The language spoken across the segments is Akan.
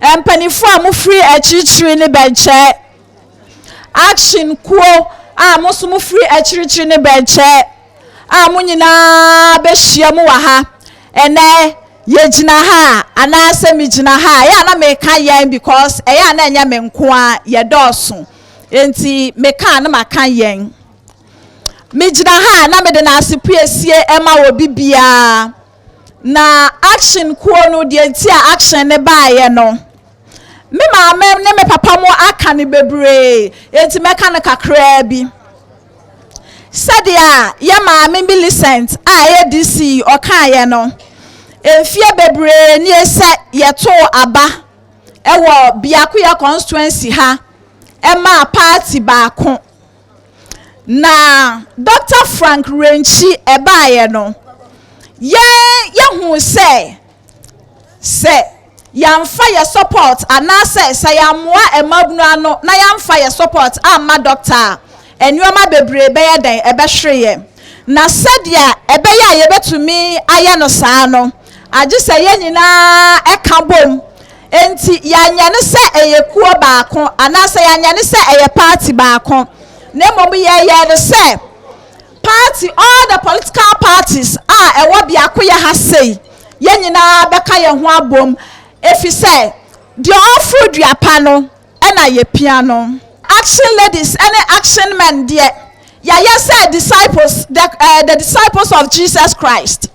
Mpanimfoɔ a wɔfiri akyirikyiri no bɛnkyɛ. Action kuo a wɔn nso wɔfiri akyirikyiri no bɛnkyɛ a wɔn nyinaa bɛhyia mu wɔ ha ɛnnɛ. Yɛgyina ha a, anaasɛ megyina ha a, ɛyɛ a na meka yɛn because ɛyɛ a na ɛnyɛ me nko ara, yɛdɔɔso. Enti meka a na maka yɛn. Megyina ha a na mede n'asepue sie ma obi biara. Na action kuo no deɛ nti a action ne baeɛ no me maame ne me papa mu aka no bebree enti mɛka no kakraa bi sɛdeɛ a yɛ maame Millicent a ɛyɛ DC ɔkaeɛ no mfeɛ bebree nie sɛ yɛtoo aba ɛwɔ biakoyɛ constituency ha ɛmaa party baako Na Dɔkta Frank Renkyi ɛbaeɛ no, yɛn yɛhuu sɛ sɛ yɛamfa yɛ support anaasɛ sɛ yɛammoa mmabunu ano na yɛamfa yɛ support amma dɔkta a, nneɛma bebree bɛyɛ dɛn? Ɛbɛhwere yɛn. Na sɛdeɛ ɛbɛyɛ a yɛbɛtumi ayɛ no saa no, agye sɛ yɛn nyinaa ka bom. Enti yɛanyɛ no sɛ ɛyɛ kuo baako anaasɛ yɛanyɛ no sɛ ɛyɛ party baako. Na mmom yɛyɛ no sɛ party all the political parties a ɛwɔ biakoyɛ ha sei yɛn nyinaa bɛka yɛn ho abom efi sɛ deɛ ɔforo dua pa no ɛna yɛpia no. Action ladies ɛne action men deɛ yɛayɛ sɛ disciples the, uh, the disciples of Jesus Christ.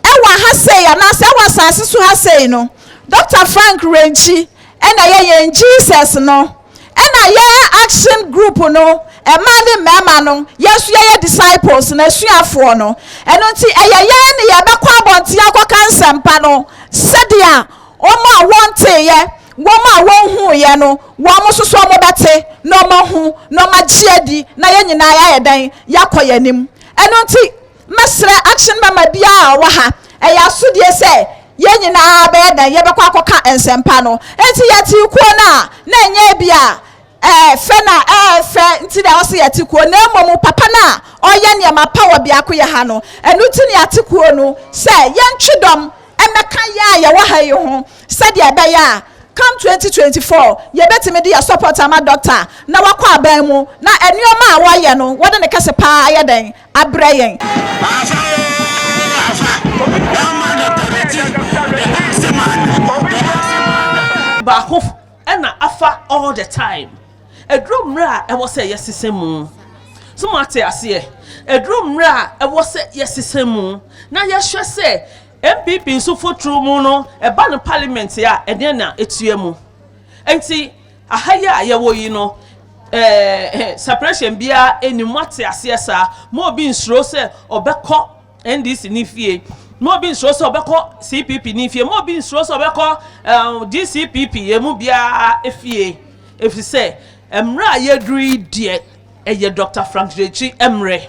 Ɛwɔ ha sei anaasɛ ɛwɔ asase so ha sei no Dr. Frank Renkyi ɛna ɛyɛ yɛn Jesus no ɛna yɛ action group no mmaa ne mmarima no yɛn nso yɛyɛ disciples na asuafoɔ no ɛno nti ɛyɛ yɛn ne yɛbɛkɔ abɔnten akɔka nsɛmpa no sɛdeɛ wɔn a wɔnteeɛ wɔn a wɔnhuuɛ no wɔn nso so wɔbɛte na wɔahu na wɔagye adi na yɛn nyinaa yɛayɛ dɛn yɛakɔ yɛn anim ɛno nti Mɛsrɛ action mɛma biara a ɔwɔ ha. Ɛyɛ asodie sɛ yɛn nyinaa bɛyɛ dɛn, yɛbɛkɔ akɔka nsɛmpa no. Enti yɛtee kuo no a, na ɛnyɛ ebia ɛɛ fɛ na ɛɛ fɛ nti na ɛwɔ sɛ yɛte kuo, na mmom papa no a ɔreyɛ nneɛma pa wɔ biakoyɛ ha no. Ɛno nti na yɛate kuo no sɛ yɛntwe dɔm mmɛka yɛn a yɛwɔ ha yi ho sɛdeɛ ɛbɛyɛ a come 2024 yɛbɛtumi de yɛn support ama Doctor na wakɔ aban mu na nneɛma a wɔreyɛ no wɔde ne kɛse paa ayɛ dɛn abrɛ yɛn. Afa oo afa, ɛma Doctor Retty the Icy Man, the Icy Man. Baako na afa all the time. Ɛduru mmerɛ a ɛwɔ sɛ yɛsesa mu. So moate aseɛ? Ɛduru mmerɛ a ɛwɔ sɛ yɛsesa mu na yɛhwɛ sɛ NPP nso foturo mu no ɛba no parliament a ɛdeɛn na ɛtua mu. Nti. Aha yi a yɛwɔ yi no, eh, separation biara nni mu. Ate aseɛ saa? Ma obi nsuro sɛ ɔbɛkɔ NDC ni fie. Ma obi nsuro sɛ ɔbɛkɔ CPP ni fie. Ma obi nsuro sɛ ɔbɛkɔ eh, DCPP emu biara fie. Ɛfiri sɛ, mmerɛ a yɛduru yi deɛ, ɛyɛ Dr. Frank Gyekyi mmerɛ.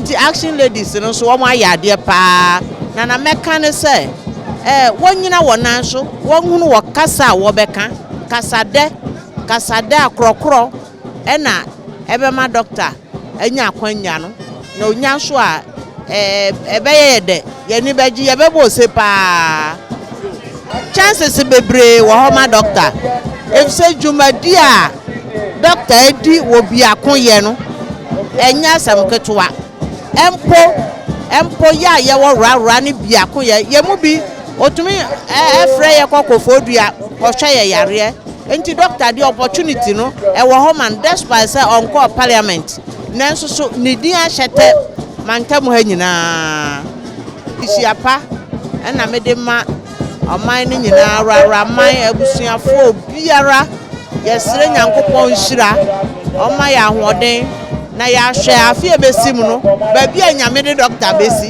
Nti action ladies no nso wɔn ayɛ adeɛ paa na na mɛka ne sɛ eh, wɔnyina wɔn nan so wɔhunu wɔ kasa a wɔbɛka kasadɛ kasadɛ a korɔkorɔ ɛna ɛbɛma doctor anya akwannya no, na onya nso a, ɛbɛyɛ yɛ dɛ, yɛn ani bɛgye, yɛbɛbɔ ose paa. Chances bebree wɔ hɔ ma dɔkta, efisɛ dwumadi a dɔkta di wɔ biakoyɛ no, ɛnyɛ asɛm ketewa. Mpo, mpo yɛ a yɛwɔ rarra ne biakoyɛ, yɛn mu bi, otumi frɛ yɛ kɔ kofodua kɔhwɛ yɛn yareɛ. Nti Doctor deɛ opportunity no ɛwɔ hɔ ma no despite sɛ ɔnkɔɔ parliament nanso so ne din ahyɛ tɛ mantam ha nyinaa. Nhyira pa na mede ma ɔman no nyinaa, awuraman, abusuafoɔ, obiara. Yɛsrɛ Nyankopɔn nhyira ɔmma yɛn ahoɔden na yɛahwɛ afe a ɛbɛsi mu no baabi a Nyame de Doctor bɛsi.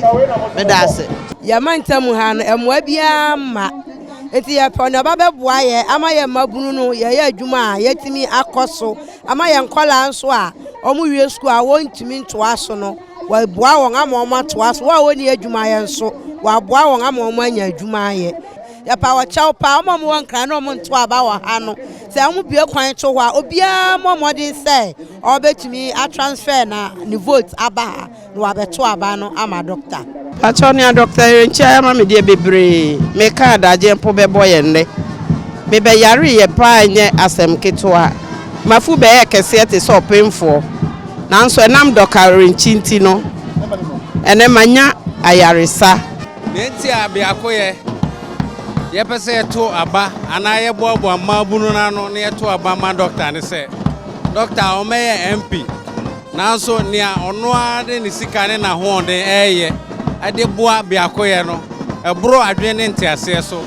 Meda ase. Yɛn mantam ha no mmoa biara mma. Enti yɛpɛ nea ɔba bɛboa yɛ ama yɛ mmabunu no yɛyɛ adwuma a yɛatumi akɔ so ama yɛn nkɔlaa nso a wɔn wie sukuu a wɔntumi ntoa so no wɔaboa wɔn ama wɔn atoa so wɔn a wɔnni adwuma yɛ nso wɔaboa wɔn ama wɔn anya adwuma ayɛ yɛpa wɔkyɛw paa wɔn a wɔwɔ nkran na wɔn nto aba wɔ ha no sɛ wɔn bue kwan to hɔ a obiara mmɔ mmɔden sɛ ɔbɛtumi atransfer na ne vote aba ha. na wabɛto aba no ama dɔkta. Pakyɛw nea Dɔkta Erenkyai ama me deɛ bebree, meka adagyeɛ mpo bɛbɔ yɛn nnɛ. Mebɛyareeɛ paa ɛnyɛ asɛm ketewa, mafu bɛyɛɛ kɛseɛ te sɛ ɔpemfoɔ, nanso ɛnam Dɔka Erenkyi nti no ɛnɛ manya ayaresa. Nea enti a biako yɛ, yɛpɛ sɛ yɛto aba anaa yɛboaboa mmaabunu no ano na yɛto aba ma dɔkta ne sɛ, dɔkta a ɔmmɛyɛ MP. Nanso nea ɔno ara de ne sika ne n'ahoɔden reyɛ de boa biakoyɛ no boro adwene ne nteaseɛ so.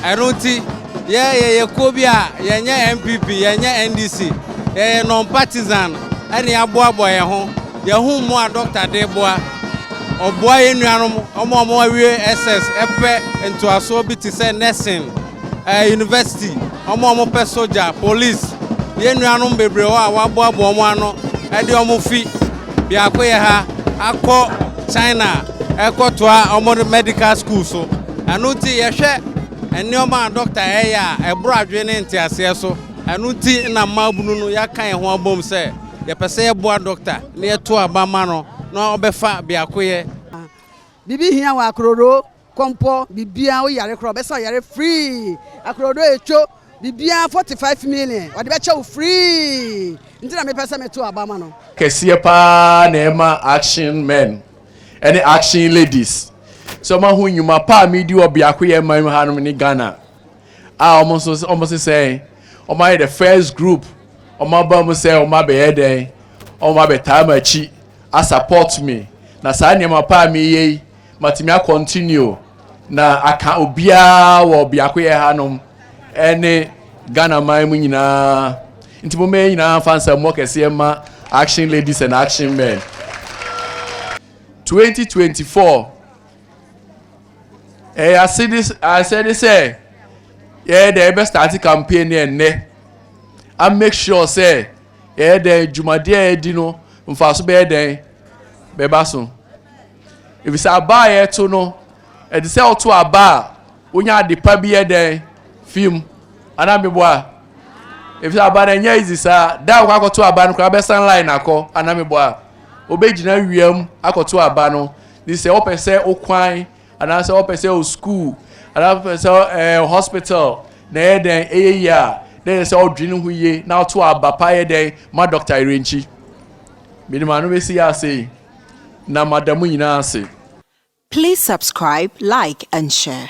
Ɛno nti, yɛ yɛyɛ kuo bi a yɛnyɛ NPP, yɛnyɛ NDC, yɛyɛ non-partisan na yɛaboaboa yɛn ho, yɛahu mmoa a dɔkta de reboa. Ɔboa yɛn nuanom, wɔn a wɔawie SS pɛ ntoasoɔ bi te sɛ nursing. ɛɛ university, wɔn a wɔpɛ sogya, police, yɛn nuanom bebree hɔ a wɔaboaboa wɔn ano de wɔn fi biako yɛ ha akɔ China ɛkɔtoa wɔn medical school so. Ɛno nti yɛhwɛ nneɛma a dɔkta ɛyɛ a ɛboro adwene ne nteaseɛ so. Ɛno nti na mmaabunu no yɛaka yɛn ho abom sɛ yɛpɛ sɛ yɛboa dɔkta na yɛto aba ma no na ɔbɛfa biakoyɛ. Biribi hia wɔ akororoo Kɔmpɔ biribiara woyare koraa ɔbɛsa woyare free akorɔdɔ etwo biribiara forty five million ɔde bɛkyɛ wo free nti na mepɛ sɛ meto aba ma no. Kɛseɛ paa na ɛma action men ne action ladies sɛ ɔma ho nnwuma pa a medi wɔ biakoyɛ man mu hanom ne Ghana a ɔmo nso ɔmo se sɛn ɔmo ayɛ the first group ɔmo aba mu sɛ ɔmo abɛyɛ dɛn ɔmo abɛtaa m'akyi a support me na saa nneɛma pa a meyɛ yi Matumi a continue na aka obiara wɔ biakoyɛ ha nom ɛne Ghana man mu nyinaa nti mo mɛyɛ nyinaa nfa nsa mmɔ kɛseɛ ma action ladies and action men 2024 ɛyɛ asɛde sɛ yɛyɛ dɛ yɛbɛ start campaign ne ɛnnɛ a make sure sɛ yɛyɛ dɛn dwumadeɛ a yɛdi no mfaso bɛyɛ dɛn bɛba so. Efisɛ aba a yɛto no, ɛte sɛ woto aba a wonya ade pa bi yɛ dɛn fi mu. Ana meboa? Efisɛ aba no ɛnyɛ easy saa. Da a wokɔ akɔto aba no koraa bɛsan line akɔ. Ana meboa? Wobɛgyina wiam akɔto aba no. Ne sɛ wopɛ sɛ wokwan anaasɛ wopɛ sɛ wo school anaa wopɛ sɛ ɛɛ eh, hospital na ɛyɛ dɛn ɛyɛ yie a na ɛyɛ sɛ ɔdwene ho yie na ɔto aba pa yɛ dɛn ma dɔkta yere nkyi. Menim ano bɛsi yɛ ase yi. na mada mo nyinaa ase. Please subscribe, like and share.